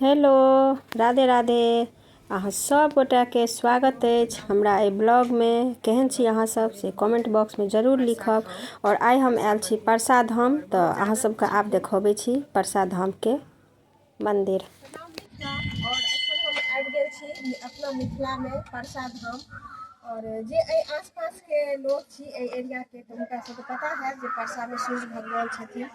hello Radhe Radhe अहाँ सब गोटा के स्वागत अछि हमरा एहि ब्लॉग मे केहन छी अहाँ सब से कमेंट बॉक्स मे जरूर लिखब आओर आइ हम आयल छी परसा धाम तऽ अहाँ सबके आब देखबै छी परसा धाम के मंदिर आओर एखन हम आबि गेल छी अपना मिथिला मे परसा धाम और जे एहि आसपास के लोग छी एहि एरिया के तऽ हुनका सबके पता हैत जे परसा मे सूर्य भगवान छथिन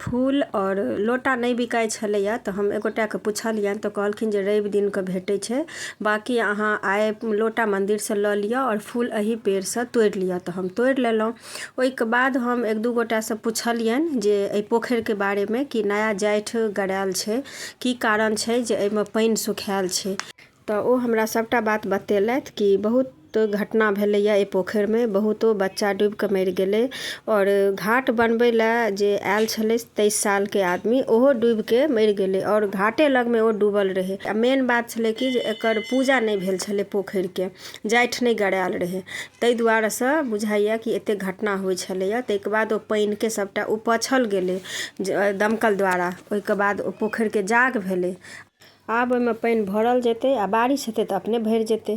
फूल आओर लोटा नहि बिकाइ छलैया तऽ हम एगोटाके पुछलियनि तऽ कहलखिन जे रवि दिन कऽ भेटै छै बाँकी अहाँ आइ लोटा मन्दिर सऽ लऽ लिअ आओर फूल एहि पेड़ सऽ तोड़ि लिअ तऽ हम तोड़ि लेलहुॅं ओहिके बाद हम एक दू गोटा सऽ पुछलियनि जे एहि पोखरिके बारेमे कि नया जाइठ गड़ाएल छै की कारण छै जे एहिमे पानि सुखाएल छै तँ ओ हमरा सभटा बात बतेलथि कि बहुत घटना भेलैए एहि पोखरिमे बहुतो बच्चा डूबि कऽ मरि गेलै आओर घाट बनबै लए जे आयल छलै तेइस सालके आदमी ओहो डूबि कऽ मरि गेलै आओर घाटे लगमे ओ डूबल रहै आ मेन बात छलै कि जे एकर पूजा नहि भेल छलै पोखरिके जाठि नहि गड़ायल रहै ताहि दुआरेसँ बुझाइए कि एतेक घटना होइ छलैए ताहिके बाद ओ पानिके सभटा उपछल गेलै जे दमकल द्वारा ओहिके बाद ओ पोखरिके जाग भेलै आब ओहिमे पानि भरल जेतै आ बारिश हेतै तऽ अपने भरि जेतै